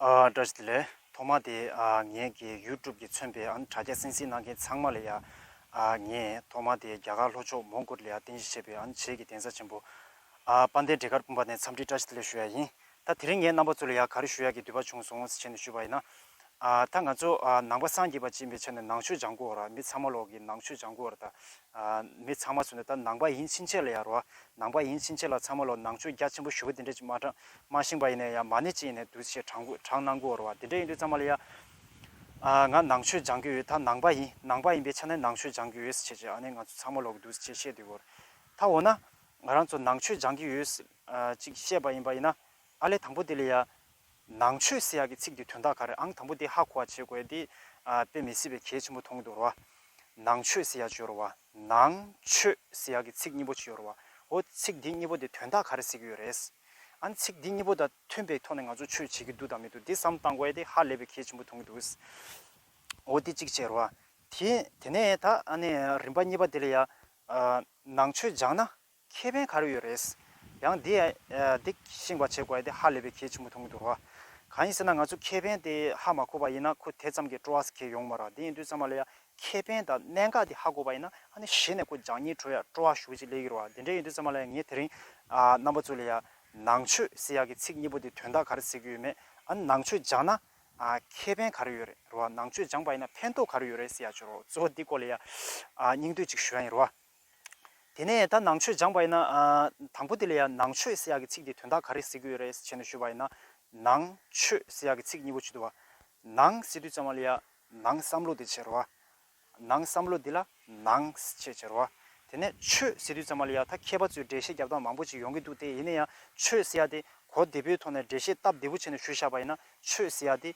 བཀྲ་ཤིས་བདེ་ལེགས། ཐོག་མ་དེ་ངེད་ཀྱི YouTube ཀྱི་མཚོན་པའི་དྲ་རྒྱ་སེང་སིང་གནང་མཁན་ཚང་མ་ལ་ཡང། ངས་ཐོག་མ་དེ་རྒྱ་གར་ལྷོ་ཕྱོགས་མོང་གོལ་ལི་ཡར་རྟེན་གཞི་བྱས་པའི་བྱེས་ཀྱི་གདན་ས་ཆེན་པོ། པ་འདའི་འབྲས་དཀར་སྤུངས་པ་ནས་འཚམས་འདྲི་བཀྲ་ཤིས་བདེ་ལེགས་ཞུ་ཡ་ཡིན། ད་དེ་རིང་ངས་རྣམ་པ་ཚོ་ལ་ཡང་ག་རེ་ཞུ་ཡ་གི་དུས་བབ་བྱུང་སོང་ཟེར་ནས་ཞུས་པ་ཡིན་ན། ད་ང་ཚོ་ནང་པ་སངས་རྒྱས་པ་ཅན་པའི་ཆ་ནས་ནང་ཆོས་སྦྱང་དགོས་བ་ར་མི་ཚང་མ་ལོག་གི་ནང་ཆོས་སྦྱང་དགོས་བ་ར་ད་མི་ཚང་མ་ཚུན་ད་ནང་པ་ཡིན་ཕྱིན་ཆད་ལ་ཡ་རོ་བ་ནང་པ་ཡིན་ཕྱིན་ཆད་ལ་ཚང་མ་ལོག་ནང་ཆོས་རྒྱ་ཆེན་པོ་ཞུ་བ་དེ་འདྲས་ཅིག་མ་མ་ཤིང་པ་ཡིན་ནས་ཡ་མ་ནས་ཅིག་ཡིན་ནས་འདུག་ཆེ་དྲང་གུ་དྲང་གནང་དགོས་བ་ར་བ་དེ་འདྲས་ཡིན་དུས་ཚང་མ་ལ་ཡ་ང་ནང་ཆོས་སྦྱང་གི་ཡོད་ད་ནང་པ་ཡིན་ནང་པ་ཡིན་པའི་ཆ་ནས་ནང་ཆོས་སྦྱང་གི་ཡོད་ཆེ་ཆེ་ཨ་ནས་ང་ཚོ་ཚང་མ་ལོག་གི་འདུག་ཆེ་བཤད་དུས་བོར་ད་འོ་ན་ང་རང་ཚོ་ནང་ཆོས་སྦྱང་གི་ཡོད་ཅིག་བཤད་པ་ཡིན་པ་ཡིན་ན་ཨ་ལས་དང་པོ་དེ་ལས་ཡ། ནང་ཆོས་སེ་ཡ་གི་ཚིག་དེ་དོན་དག་ག་རེད་ཨང་དང་པོ་དེ་ཧ་གོ་བ་བྱེད་དགོས་དེ། དཔེ་མི་སྲིད་པའི་གལ་ཆེན་པོ་མཐོང་གི་འདུག་ར་བ། ནང་ཆོས་སེ་ཡ་བཅོས་ར་བ། ནང། ཆོས། སེ་ཡ་གི་ཚིག་གཉིས་པོ་བཅོས་ར་བ། འོ། ཚིག་དེ་གཉིས་པོ་དེ་དོན་དག་ག་རེ་ཟེར་གི་ཡོད་རེད། ཨང། ཚིག་དེ་གཉིས་པོ་དང་མཐུན་པའི་ཐོག་ནས་ང་ཚོ་ཆོས་བྱེད་ཀྱི་འདུག་དང་མི་འདུག་དེ་བསམ་བཏང་གོ་ཨེ་དེ་ཧ་ལས་པའི་གལ་ཆེན་པོ་མཐོང་གི་འདུག། འོ་དེ་གཅིག་བྱས་ར་བ། དེ། དེ་ནས་ད་ཨ་ནས་རིམ་པ་གཉིས་པ་དེ་ལས་ཡ། ནང་ཆོས་སྦྱངས་ན། ཁྱད་ཕན་ག་རེ་ཡོད་རེད། ཡང་འདི་འདི་ཤིང་བ་བྱེད་དགོས་ཡ་དེ་ཧ་ལས་པའི་གལ་ཆེན་པོ་མཐོང་གི་འདུག་རོ། གང་ཡིན་ཟེར་ན་ང་ཚོ་ཁྱད་ཕན་དེ་ཧ་མ་གོ་བ་ཡིན་ན་ཁོ་དེ་ཙམ་གྱི་སྤྲོ་བ་གལ་ཡོང་མ་རོ་དེ་ཡིན་དུས་ཚང་མ་ལ་ཡ་ཁྱད་ཕན་དང་གནད་འགག་དེ་ཧ་གོ་བ་ཡིན་ན་ཧ་ནི་གཞི་ནས་ཁོ་སྦྱང་ཉིན་ཁྲོད་ཡ་སྤྲོ་བ་ཞུགས་ཅིག་ལས་ཀྱི་རོ་དེ་འདྲས་ཡིན་དུས་ཚང་མ་ལ་ཡ་ངས་དེ་རིང་རྣམ་པ་ཚོ་ལ་ཡ་ནང་ཆོས་ཟེར་ཡག་གི་ཚིག་གཉིས་པོ་དེ་དོན་དག་ག་རེ་ཟེར་གྱི་ཡོད་མེད་ཨ་ནི་ནང་ཆོས་སྦྱང་ན་ཁྱད་ཕན་ག་རེ་ཡོད་རེད་རོ་ནང་ཆོས་སྦྱངས་པ་ཡིན་ན་ཕན་ཐོག་ག་རེ་ཡོད་རེད་ཟེར་ཡག་བྱུང་རོ་གཙོ་བོ་འདི་སྐོར་ལ་ཡ་སྙིང་བསྡུས་ཅིག་ཞུ་ཡ་ཡིན་རོ། དེ་ནས་ད་ནང་ཆོས་སྦྱངས་པ་ཡིན་ན། དང་པོ་དེ་ལ་ཡང་ནང་ཆོས་ཟེར་ཡག་གི་ཚིག་དེའི་དོན་དག་ག་རེ་ཟེར་གྱི་ཡོད་རེད་ཟེར་ནས་ཞུས་པ་ཡིན་ན། ནང་ཆོས་ཟེར་ཡག་གི་ཚིག་གཉིས་པོ་བྱེད་དུ་བ། ནང་ཟེར་དུས་ཙམ་མ་ལ་ཡང་ནང་བསམ་བློ་དེ་བྱེད་རོགས་ཨ། ནང་བསམ་བློ་དེ་ལ་ནང་ཞེས་བྱེད་རོགས་ཨ། དེ་ནས་ཆོས་ཟེར་དུས་ཙམ་མ་ལ་ཡང་ད་མཁས་པ་ཚོས་འགྲེལ་བཤད་རྒྱབ་སྟངས་མང་པོ་ཅིག་ཡོང་གི་འདུག་དེ་ཡིན་ན་ཡང་ཆོས་ཟེར་ཡག་དེ་གོ་བདེ་པོའི་ཐོག་ནས་འགྲེལ་བཤད་སྟབས་བདེ་པོ་བྱས་ནས་ཞུས་བཞག་པ་ཡིན་ན་ཆོས་ཟེར་ཡག་དེ་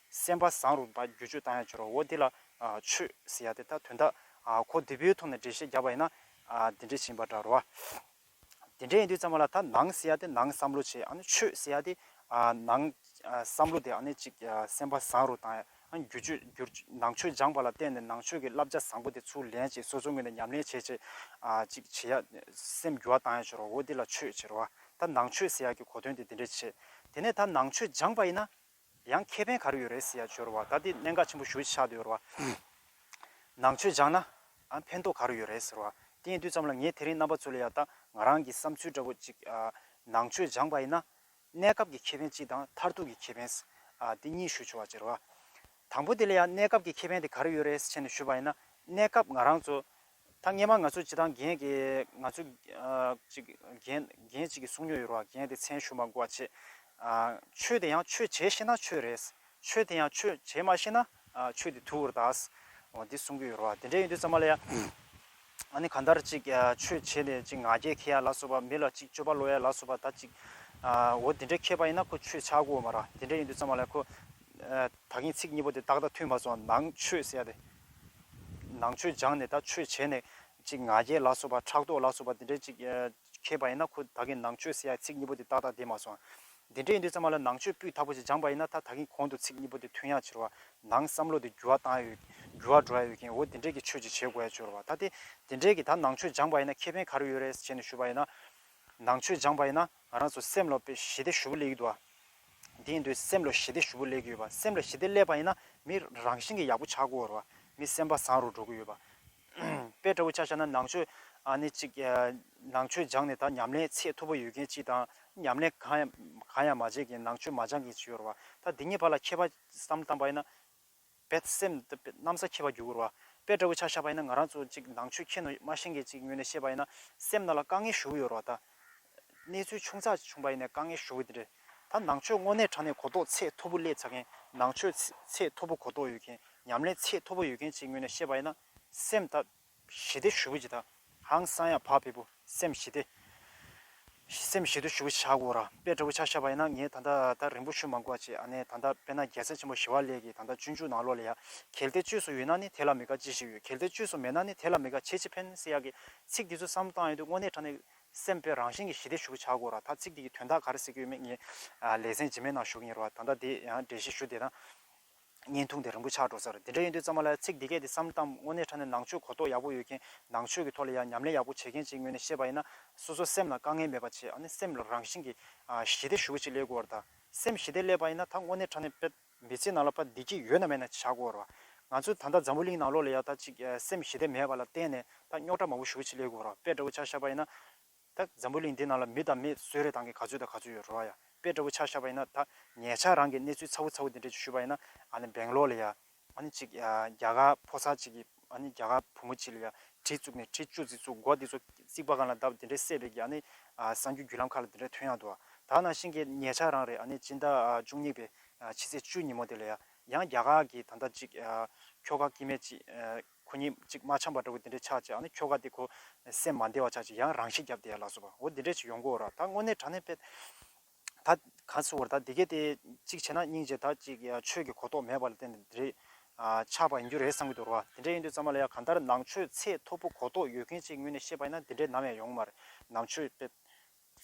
སེམས་པ་བཟང་རུང་དང་བསྒྱུར་བཅོས་བཏང་ཡང་འགྱུར་བའོ་དེ་ལ། ཆོས། ཟེར་ཡ་དེ་ལྟ་དོན་དག། གོ་བདུན་པོའི་ཐོག་ནས་འགྲེལ་བཤད་རྒྱག་པ་ཡིན་ན། དེ་འདྲས་བྱིན་པ་འདྲ་རོ། དེ་འདྲས་ཡིན་དུས་ཙམ་མ་ལ་ད་ནང་ཟེར་ཡ་དེ་ནང་བསམ་བློ་བྱེད་ཨ་ཆོས་ཟེར་ཡ་དེ། ནང། བསམ་བློ་དེ་ཨ་ནི་ཅིག་སེམས་པ་བཟང་རུང་དང་ཡང་བསྒྱུར་བཅོས་བསྒྱུར། ནང་ཆོས་སྦྱངས་པ་ལ་བརྟེན་ནས་ནང་ཆོས་ཀྱི་བསླབ་བྱ་བཟང་པོ་དེ་ཚུར་ལེན་བྱེད་སོ་སོའི་ངོས་ནས་ཉམས་ལེན་བྱེད་བྱེད། ཅིག་བྱེད་ཡ། སེམས་བསྒྱུར་བ་བཏང་ཡང་འགྱུར་བའོ་དེ་ལ་ཆོས་ཟེར་རོ། ད་ནང་ཆོས་ཟེར་ཡ་གི་གོ་དོན་དེ་དེ་འདྲས་བྱེད། དེ་ནས་ད་ནང་ཆོས་སྦྱངས་པ་ཡིན་ན། ཡང་ཁེ་ཕན་ག་རེ་ཡོད་རེད་ཟེར་ཡ་སྦྱོར་བ་ད་འདི་གནད་འགག་ཆེན་པོ་ཞུ་ཆགས་འདུག་ཡོད་རེད་བ། ནང་ཆོས་སྦྱང་ན་ཕན་ཐོག་ག་རེ་ཡོད་རེད་ཟེར་བ་དེའི་དུས་ཙམ་ལ་ངས་དེ་རིང་རྣམ་པ་ཚོ་ལ་ཡག་ད་ང་རང་གི་བསམ་ཚུལ་འདྲ་པོ་གཅིག་ནང་ཆོས་སྦྱང་པ་ཡིན་ན་གནས་སྐབས་ཀྱི་ཁེ་ཕན་གཅིག་དང་མཐར་ཐུག་གི་ཁེ་ཕན། དེ་གཉིས་ཞུ་ཆོག་ཟེར་བ། དང་པོ་དེ་ལ་ཡང་གནས་སྐབས་ཀྱི་ཁེ་ཕན་དེ་ག་རེ་ཡོད་རེད་ཟེར་ནས་ཞུས་པ་ཡིན་ན་གནས་སྐབས་ང་རང་ཚོ་ད་སྔས་མ་ང་ཚོས་བྱེད་སྟངས་གཞན་གྱིས་ང་ཚོས་ཅིག་གཞན་གཞན་ཅིག་གིས་གསུངས་མྱོང་ཡོད་རོགས་གཞན་དེ་མཚན་ཞུ་མ་དགོས་བ་བྱེད། ཆོས་དེ་ཡང་ཆོས་བྱེད་ཤེས་ན་ཆོས་རེད། ཆོས་དེ་ཡང་ཆོས་བྱེད་མ་ཤེས་ན་ཆོས་དེ་དུ་བུར་གདའ། འོ་འདི་གསུངས་གི་ཡོད་རོགས་དེ་འདྲས་ཡོད་དུས་ཙམ་མ་ལ་ཡ། ཨ་ནི་གང་ལྟར་ཅིག་ཆོས་བྱེད་ནས་ཅིག་ང་རྒྱལ་ཁེ་ཡ་ལ་སོགས་པ་མི་ལ་ཅིག་སྤྱོད་པ་ལོག་ཡ་ལ་སོགས་པ་ད་ཅིག། འོ་དེ་འདྲས་ཁེ་པ་ཡིན་ན་ཁོ་ཆོས་བྱ་དགོས་འོ་མ་ར་དེ་འདྲས་ཡོད་དུས་ཙམ་མ་ལ་ཡ་ཁོ། ད་གིན་ཚིག་གཉིས་པོ་དེ་ཏག་ཏག་ཐུས་མ་སོང་ནང་ཆོས་ཟེར་ཡ་དེ། ནང་ཆོས་སྦྱངས་ནས་ད་ཆོས་བྱས་ནས། ཅིག་ང་རྒྱལ་ལ་སོགས་པ་ཕྲག་དོག་ལ་སོགས་པ་འདི་འདྲའི་ཅིག། མཁས་པ་ཡིན་ན་ཁོ་ད་གིན་ནང་ཆོས་ཟེར་ཡ་ཚིག་གཉིས་པོ་དེ་ཏག་ཏག་བསྡད་མ་སོང། འདི་འདྲའི་ཡིན་དུས་ཚང་མ་ལ་ནང་ཆོས་སྤུས་དག་པོ་ཞིག་སྦྱངས་པ་ཡིན་ན་ད་ད་གིན་གོང་དུ་ཚིག་གཉིས་པོ་དེ་ཐོན་ཡ་ཕྱིར་བ། ནང་བསམ་བློ་དེ་འགྱུར་བ་བཏང་ཡ་ཡོད། འགྱུར་བ་འགྲོ་ཡ་ཡོད་གིན་འོ་འདི་འདྲས་ཀྱི་ཆོས་ཅིག་བྱེད་དགོས་ཡ་ཕྱིར་བ། ད་དེ་འདི་འདྲས་ཀྱི་ད་ནང་ཆོས་སྦྱངས་པ་ཡིན་ན་ཁེ་ཕན་ག་རེ་ཡོད་རེད་ཟེར་བྱས་ནས་ཞུས་པ་ཡིན་ན། ནང་ཆོས་སྦྱངས་པ་ཡིན་ན། ང་རང་ཚོ་སེམས་ལ་ཞི་བདེ་ཞུ་བོ་ལས་ཡོད་དུ་བ། དེ་ཡིན་དུས་སེམས་ལ་ཞི་བདེ་ཞུ་བོ་ལས་ཀྱི་ཡོད་པ་སེམས་ལ་ཞི་བདེ་སླེབས་པ་ཡིན་ན་མི་རང་བཞིན་གྱི་ཡག་པོ་ཆགས་དགོས་བར་མི་སེམས་པ་བཟང་རུ་འགྲོ་གི་ཡོད་པ། དཔེ་ལྟ་བུ་ཆ་བྱ་ན་ནང་ཆོས་ནི་གཅིག་ནང་ཆོས་སྦྱངས་ནས་ད་ཉམས་ལེན་ཚད་མཐོ་པོ་ཡོད་མཁན་གཅིག་དང་ཉམས་ལེན་གང་ཡང་མ་བྱས་མཁན་ནང་ཆོས་མ་སྦྱངས་མཁན་གཅིག་ཡོད་བར་ད་འདི་གཉིས་བར་ལ་ཁྱད་པར་བསམ་བཏང་པ་ཡིན་ན། བས། སེམས། གནམ་ས་ཁྱེད་པ་རྒྱུ་སྐུར་བ། དཔེ་ལྟ་བུ་ཆ་ཤ་བ་ཡིན་ན་ང་རང་ཚོ་ཅིག་ནང་ཆོས་མཁྱེན་ནོ་མ་མཁྱེན་མཁན་ཅིག་ངོས་ནས་བཤད་པ་ཡིན་ན། སེམས་རྣ་ལ་དཀའ་ངལ་ཞུ་གི་ཡོད་རོགས་ད། གནས་ཚུལ་ཆུང་ཚགས་ཅིག་བྱུང་པ་ཡིན་ནས་དཀའ་ངལ་ཞུ་གི་འདི་རེད། ད་ནང་ཆོས་དངོས་གནས་དྲ་གནས་གོ་རྟོགས་ཚད་མཐོ་པོ་སླེབས་ཚར་མཁན། ནང་ཆོས། ཚད་མཐོ་པོ་གོ་རྟོགས་ཡོད་མཁན། ཉམས་ལེན་ཚད་མཐོ་པོ་ཡོད་མཁན་ཅིག་ངོས་ནས་བཤད་པ་ཡིན་ན། སེམས། ཞི་བདེ་ཞུ་བའི་ཇི་ད་ཧང་སང་ཡ་བག་ཕེབས་པོ་སེམས་ཞི་བདེ། སེམས་ཞི་དུལ་ཞུ་བའི་ཆག་སྒོ་ར་པའི་དགྲ་བོ་ཆག་ཤ་བ་ཡིན་ན་ངས་ད་ལྟ་ད་རིང་པོ་ཞུ་མ་གོ་ཅེས་ཨ་ནེ་ད་ལྟ་དཔེ་ན་རྒྱལ་སྲས་ཆེན་པོ་ཞི་བ་ལས་ཀྱིས་ད་ལྟ་སྤྱོད་འཇུག་ནང་ལོག་ལ་ཡ་གལ་ཏེ་བཅོས་སུ་ཡོད་ན་ནི་དེ་ལ་མི་དགའ་ཅི་ཞིག་ཡོད་གལ་ཏེ་བཅོས་སུ་མེད་ན་ནི་དེ་ལ་མི་དགའ་ཆེ་ཆེ་ཕན་སྲིད་ཡ་གི་ཚིག་འདི་ཚོ་བསམ་བཏང་ཡོད་དུས་དངོས་གནས་དྲ་གནས་སེམས་པའི་རང་བཞིན་གྱི་ཞི་བདེ་ཞུ་བའི་ཆག་སྒོ་ར་ད་ཚིག་འདི་གི་དོན་དག་ག་རེ་ཟེར་གྱི་ཡོད་མེད་ངས་ལེ་ཚན་ཇི་མའི་ནང་ཞུ་གི་ཡིན་རུང་བ་ད་ད་དེ་ཡང་འབྲེལ་ཞིག་ཞུ་དེ་ད་བརྙན་ཐུང་དེ་རིང་པོ་ཆགས་འགྲོ་ཚར་དེ་འདྲ་ཡིན་དུས་ཙམ་མ་ལ་ཚིག་འདི་སྐད་དེ་བསམ་གཏམ་དངོས་གནས་ཕྲ་ནས་ནང་ཆོས་གོ་རྟོགས་ཡག་པོ་ཡོད་མཁན་ནང་ཆོས་ཀྱི་ཐོག་ལ་ཡང་ཉམས་ལེན་ཡག་པོ་བྱེད་མཁན་ཅིག་ངོས་ནས་བཤད་པ་ཡིན་ན་སོ་སོ་སེམས་ལ་དཀའ་ངལ་མེད་པ་བྱས་ཨ་ནི་སེམས་ལ་རང་བཞིན་གྱི་ཞི་བདེ་ཞུ་བ་ཅིག་སླེབས་དགོས་བར་ད་སེམས་ཞི་བདེ་སླེབས་པ་ཡིན་ན་ད་དངོས་གནས་ཕྲ་ནས་ཕྲ། མི་ཚེའི་ནང་ལ་ཕ་བདེ་སྐྱིད་ཡོད་ན་མེད་ན་བྱ་དགོས་བར་ང་ཚོས་ད་ལྟ་འཛམ་བུ་གླིང་ནང་ལོགས་ལ་ཡང་ད་ཅིག་སེམས་ཞི་བདེ་མེད་པ་ལ་བརྟེན་ནས་ད་རྙོག་དྲ་མང་པོ་ཞུ་བ་ཅིག་སླེབས་དགོས་བར་དཔེ་འདྲ་བོ་ཆ་ཤ་པ་ཡིན་ན། ད་འཛམ་བུ་གླིང་འདི་ནང་ལ་མི་དང་མི་སུ་རེད་དང་གི་ག་ཚོད་དང་ག་ཚོད་ཡོད་རོ་ཨ་ཡ་དཔེ་འདྲ་བོ་ཆགས་ཤག་པ་ཡིན་ན་ད་ངེད་ཅག་རང་གི་གནས་ཚུལ་ཚ་བོ་ཚ་བོ་འདི་འདྲ་ཅིག་ཞུས་པ་ཡིན་ན་ཨ་ནི་སྦེང་ལོར་ལ་ཡ་ཨ་ནི་ཅིག་རྒྱ་གར་ཕོ་གསར་ཅིག་གི་ཨ་ནི་རྒྱ་གར་བུ་མོ་ཅིག་ལ་ཡ་གྲི་བཙུགས་ནས་གྲི་བཅུ་རྩི་བཙུགས་མགོ་འདི་ཚོ་རྩིག་པ་གང་ལ་བརྡབས་འདི་འདྲའི་སད་པའི་གི་ཨ་ནི་གསང་རྒྱུད་བརྒྱུད་ལམ་ཁག་ལ་འདི་འདྲ་ཐོན་ཡག་འདུག་ཨ་ད་ནང་བཞིན་གི་ངེད་ཅག་རང་རེད་ཨ་ནི་སྤྱི་ཟླ་བཅུ་གཉིས་པའི་ཕྱི་ཚེས་བཅུ་ཉིན་མོ་འདི་ལ་ཡ་ཡང་རྒྱ་གར་གི་ད་ལྟ་ཅིག་ཁྱོ་ག་སྐྱིད་མེད་ཅིག་ཁོ་གཉིས་གཅིག་མ་འཆམ་པ་འདྲ་བོ་དེ་འདྲས་ཆགས་ཅིག་ཨ་ནི་ཁྱོ་ག་དེ་ཁོ་སེམས་མ་བདེ་བ་ཆགས་ཅིག་ཡང་རང་ཤི་རྒྱབ་དེ་ཡ་ལགས་སོ་བ་འོ་དེ་འདྲས་ཅིག་ཡོང་གོ་འོ་ར་ད་དངོས་གནས་དྲ་གནས་ཕེད་ད་ག་ཚོད་འོ་ར་ད་དེ་གས་དེ་གཅིག་བྱས་ན་སྙིང་རྗེ་ད་ཅིག་ཆོས་ཀྱི་གོ་རྟོགས་མེད་པ་ལ་བརྟེན་ནས་དེ་རེས་ཆགས་པ་ཡིན་རྒྱུ་རེད་བསམ་གྱི་འདུག་ར་བ་དེ་འདྲས་ཡིན་དུས་ཙམ་མ་ལ་ཡ་གང་ལྟར་ནང་ཆོས་ཚད་མཐོ་པོ་གོ་རྟོགས་ཡོད་མཁན་གཅིག་ངོས་ནས་བཤད་པ་ཡིན་ན་དེ་འདྲས་ནམ་ཡང་ཡོང་གི་མ་རེད་ནང་ཆོས་ཕེད་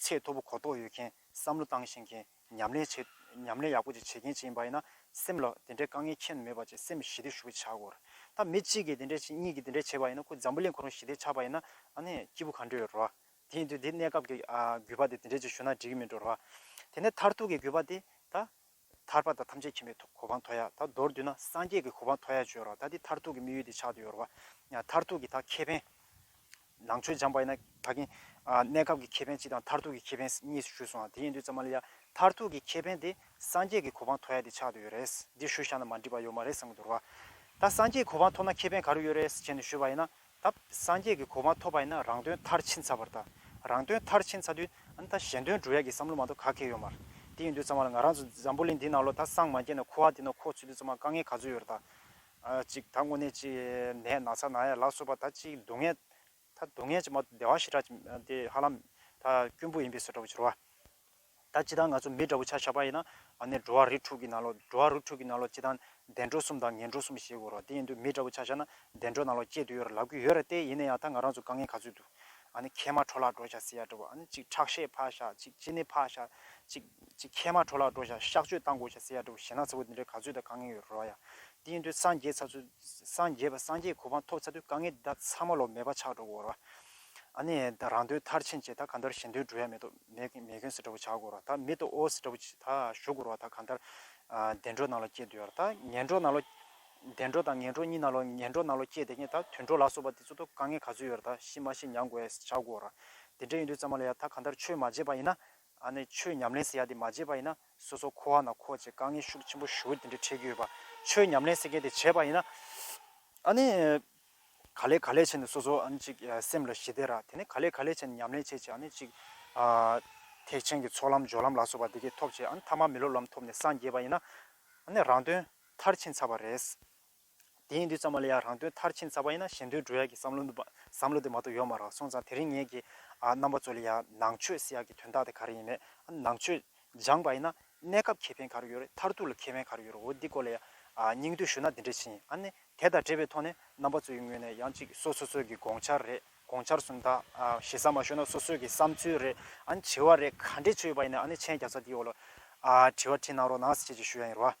ཚད་མཐོ་པོ་གོ་རྟོགས་ཡོད་མཁན་བསམ་བློ་བཏང་ཤེས་མཁན་ཉམས་ལེན་བྱེད་ཉམས་ལེན་ཡག་པོ་ཅིག་བྱེད་མཁན་ཅིག་ཡིན་པ་ཡིན་ན་སེམས་ལ་དེ་འདྲའི་དཀའ་ངལ་ཁྱད་ནས་མེད་པ་བཅས་སེམས་ཞི་བདེ་ཞུ་བ་བྱ་དགོས། ད་མི་གཅིག་གིས་དེ་འདྲ་བྱེད་གཉིས་ཀྱིས་དེ་འདྲ་བྱས་པ་ཡིན་ན་ཁོ་འཛམ་བུ་གླིང་གང་རུང་ཞི་བདེ་ཆགས་པ་ཡིན་ན་ཨ་ནི་སྐྱིད་པོ་ག་འདྲ་ཡོད་རེད་བ། དེ་ཡིན་དུས་དེ་གནས་སྐབས་ཀྱི་རྒུད་པ་དེ་དེ་འདྲས་ཅིག་ཞུ་ན་འགྲིག་གི་མིན་འགྲོ་རེད་བ། དེ་ནས་མཐར་ཐུག་གི་རྒུད་པ་དེ་ད་ཐར་པ་དང་ཐམས་ཅད་མཁྱེན་པའི་གོ་འཕང་མཐོ་ཡག་ད་མདོར་བསྡུས་ན་སངས་རྒྱས་ཀྱི་གོ་འཕང་མཐོ་ཡག་བརྗོད་རོགས་ད་འདི་མཐར་ཐུག་གི་དམིགས་ཡུལ་འདི་ཆགས་འདི་ཡོད་རོགས། མཐར་ཐུག་གི་ད་ཁེ་ཕན། ནང་ཆོས་སྦྱངས་པ་ཡིན་ན་ད་གིན། གནས་སྐབས་ཀྱི་ཁེ་ཕན་གཅིག་དང་མཐར་ཐུག་གི་ཁེ་ཕན་གཉིས་སུ་ཞུས་སོང་ང་དེ་ཡིན་དུས་ཙམ་མ་ལ་ཡ། མཐར་ཐུག་གི་ཁེ་ཕན་དེ་སངས་རྒྱས་ཀྱི་གོ་འཕང་མཐོ་ཡག་འདི་ཆགས་འདི་ཡོད་རེད། འདི་ཞུ་བཞག་ན་མ་འགྲིག་པ་ཡོད་མ་རེད་བསམ་གི་འདུག་རོགས། ད་སངས་རྒྱས་གོ་འཕང་མཐོ་ན་ཁེ་ཕན་ག་རུ་ཡོད་རེད་ཟེར་བྱས་ནས་ཞུས་པ་ཡིན་ན། ད་སངས་རྒྱས་ཀྱི་གོ་མ་ཐོབ་པ་ཡིན་ན་རང་དོན་མཐར་ཕྱིན་ཚར་བར་ད་རང་དོན་མཐར་ཕྱིན་ཚར་དུས་ཨ་ན་ད་གཞན་དོན་འགྲུབ་ཡག་གི་བསམ་བློ་མ་གཏོགས་ག་གེ་ཡོད་མར་དེ་ཡིན་དུས་ཚང་མ་ལ་ང་རང་ཚོ་འཛམ་བུ་གླིང་འདི་ནང་ལོ་ད་སངས་མ་རྒྱས་ན་ཁུ་ཨ་དེ་ནོ་ཁོ་ཚུད་དུས་ཚང་མ་དཀའ་ངལ་ག་ཚོད་ཡོད་ར་ད་གཅིག་ད་དངོས་གནས་ཅིག་ནད་ན་ཚ་ན་ཡ་ལ་སོགས་པ་ད་ཅིག་སྡུག་བསྔལ་ད་སྡུག་བསྔལ་ཅིག་མ་གཏོགས་བདེ་བ་ཞེ་དྲག་ཅིག་མ་དེ་ཧ་ལམ་ད་སྐྱོན་བུ་ཡིན་པས་སོ་འདྲ་བོ་བྱོ་ར་བ། ད་ཅི་ལྟར་ང་ཚོ་མི་འདྲ་བོ་ཆ་ཞག་པ་ཡིན་ན། ནས་འགྲོ་བ་རིགས་དྲུག་གི་ནང་ལོགས། འགྲོ་བ་རིགས་དྲུག་གི་ནང་ལོགས་ཅི་ལྟར། བདེ་འགྲོ་གསུམ་དང་ངན་འགྲོ་གསུམ་ཞེས་དགོས་རོགས་དེ་ཡིན་དུས་མི་འདྲ་བོ་ཆ་བཞག་ན། བདེ་འགྲོ་ནང་ལོགས་སྐྱེས་དུས་ཡོད་ར་ལག་དུས་ཡོད་ར་སྟེ་ཡིན་ན་ཡང་ད་ང་རང་ཚོ་དཀའ་ངལ་ག་ཚོད་འདུག། ནས་ཁལ་མ་འཕྲོ་ལག་འགྲོ་བཞག་ཟེར་ཡག་འདྲ་བོ་ཨ་ནས་ཅིག་ཁྲག་ཤེད་འཕར་བཞག་ཅིག་ཅི་ནས་འཕར་བཞག་ཅིག། ཅིག་ཁལ་མ་འཕྲོ་ལག་འགྲོ་བཞག་གཤག་བཅོས་བཏང་དགོས་བཞག་ཟེར་ཡག་འདྲ་བོ་ཞེ་ན་ཚ་བོ་འདི་འདྲའི་ག་ཚོད་ད་དཀའ་ངལ་ཡོད་རོགས་ཡ། དེ་ཡིན་དུས་སངས་རྒྱས་ཚ་ཚུལ། སངས་རྒྱས་པ་སངས་རྒྱས་གོ་འཕང་ཐོབ་ཚ་དུས་དཀའ་ངལ་འདི་དག་ཚང་མ་ལོགས་མེད་པ་ཆགས་འགྲོ་དགོས་རོགས། ཨ་ནས་ད་རང་དོན་མཐར་ཕྱིན་བྱས་ད་ག་འདྲར་གཞན་དོན་འགྲོ་ཡ་མེད་དོ། མེ་གོན་སི་ལྟ་བུ་བྱ་དགོས་རོ་ད་མི་ཏོ་ཨོ་སི་ལྟ་བུ་ད་ཞུ་དགོས་རོ་ད་གང་ལྟར། བདེ་འགྲོ་ནང་ལོ་སྐྱེ་འདོད་ཡོད་རོ་ད་ངན་འགྲོ་ནང་ལོ། བདེ་འགྲོ་དང་ངན་འགྲོ་གཉིས་ནང་ལོ་ངན་འགྲོ་ནང་ལོ་སྐྱེ་དེ་ངས་ད་དུད་འགྲོ་ལ་སོགས་པ་དེ་ཚོ་ཏོ་དཀའ་ངལ་ག་ཚོད་ཡོད་རོ་ད་ཤི་མ་ཤི་མྱང་དགོས་ཨེ་སི་བྱ་དགོས་རོ། དེ་འདྲ་ཡིན་དུས་ཙང་མ་ལ་ཡ་ད་གང་ལྟར་ཆོས་མ་བརྗེད་པ་ཡིན་ན། ཨ་ནི་ཆོས་ཉམས་ལེན་ཟེར་ཡ་དེ་མ་བརྗེད་པ་ཡིན་ན་སོ་སོ་ཁོ་བ་ན་ཁོ་བྱས་དཀའ་ངལ་ཤུགས་ཆེན་པོ་ཞུ་དེ་འདྲ་འཕྲད་ཀྱི་ཡོད་པ་ཆོས་ཉམས་ལེན་ཟེར་མཁན་དེ་བྱས་པ་ཡིན་ན། ཨ་ནི། ག་ལས་ག་ལས་བྱས་ནས་སོ་སོ་ཨ་ནི་ཅིག་སེམས་ལ་ཞི་བདེ་རག་དེ་ནས་ག་ལས་ག་ལས་བྱས་ནས་ཉམས་ལེན་བྱས་རྗེས་ཨ་ནི་ཅིག། ཐེག་ཆེན་གྱི་ཚོགས་ལམ་སྦྱོར་ལམ་ལ་སོགས་པ་འདི་སྐད་ཐོབ་རྗེས་ཨ་ནི་ཐ་མ་མི་སློབ་ལམ་ཐོབ་ནས་སངས་རྒྱས་པ་ཡིན་ན། ཨ་ནི་རང་དོན་མཐར་ཕྱིན་ཚར་བ་རེད། དེ་ཡིན་དུས་ཙམ་མ་ལ་ཡང་རང་དོན་མཐར་ཕྱིན་ཚར་བ་ཡིན་ན་གཞན་དོན་འགྲོ་ཡག་གི་བསམ་བློ་འདུག་བསམ་བློ་དེ་མ་གཏོགས་ཡོད་མ་རག་སོང་ཙང་དེ་རིང་ངེད་ཀྱི་རྣམ་པ་ཚོ་ལ་ཡང་ནང་ཆོས་སྲིད་ཡག་གི་དོན་དག་དེ་ག་རེ་ཡིན་མེད་ཨ་ནི་ནང་ཆོས་སྦྱངས་པ་ཡིན་ན་གནས་སྐབས་ཁེ་ཕན་ག་རེ་ཡོད་རེད་མཐར་ཐུག་ལ་ཁེ་ཕན་ག་རེ་ཡོད་རེད་འོ་འདི་སྐོར་ལ་ཡང་སྙིང་བསྡུས་ཞུ་ན་འདི་འདྲས་བྱེད་ཨ་ནི་དེ་དང་འབྲེལ་བའི་ཐོག་ནས་རྣམ་པ་ཚོ་ཡི་ངོས་ནས་ཡང་ཅིག་སོ་སོ་ཚོད་ཀྱི་དགོངས་འཆར་རེད་དགོངས་འཆར་གསུམ་དང་ཞེ་ས་མ་ཤོར་ན་སོ་སོད་ཀྱི་བསམ་ཚུལ་རེད་ཨ་ནི་དྲི་བ་རེད་ག་འདྲས་ཆོད་ཡོད་པ་ཡིན་ན་ཨ་ནི་མཆན་བརྒྱ་རྩ་འདིའི་འོག་ལ་དྲི་བ་འཕྲིན་གནང་རོགས་གནང་ཟེ་བཅས་ཀྱི་ཞུ་ཡ་ཡིན་རོགས་ཨ།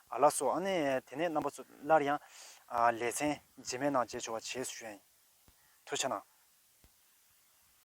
ཨ་ལགས་སོ་ཨ་ནི་དེ་ནས་རྣམ་པ་ཚོ་སླར་ཡང། ལེ་ཚན། རྗེས་མའི་ནང་བརྗེ་ཆོག་བ་བྱེད་སུ་ཞུ་ཨེ། ཐུ་ཆ་ན།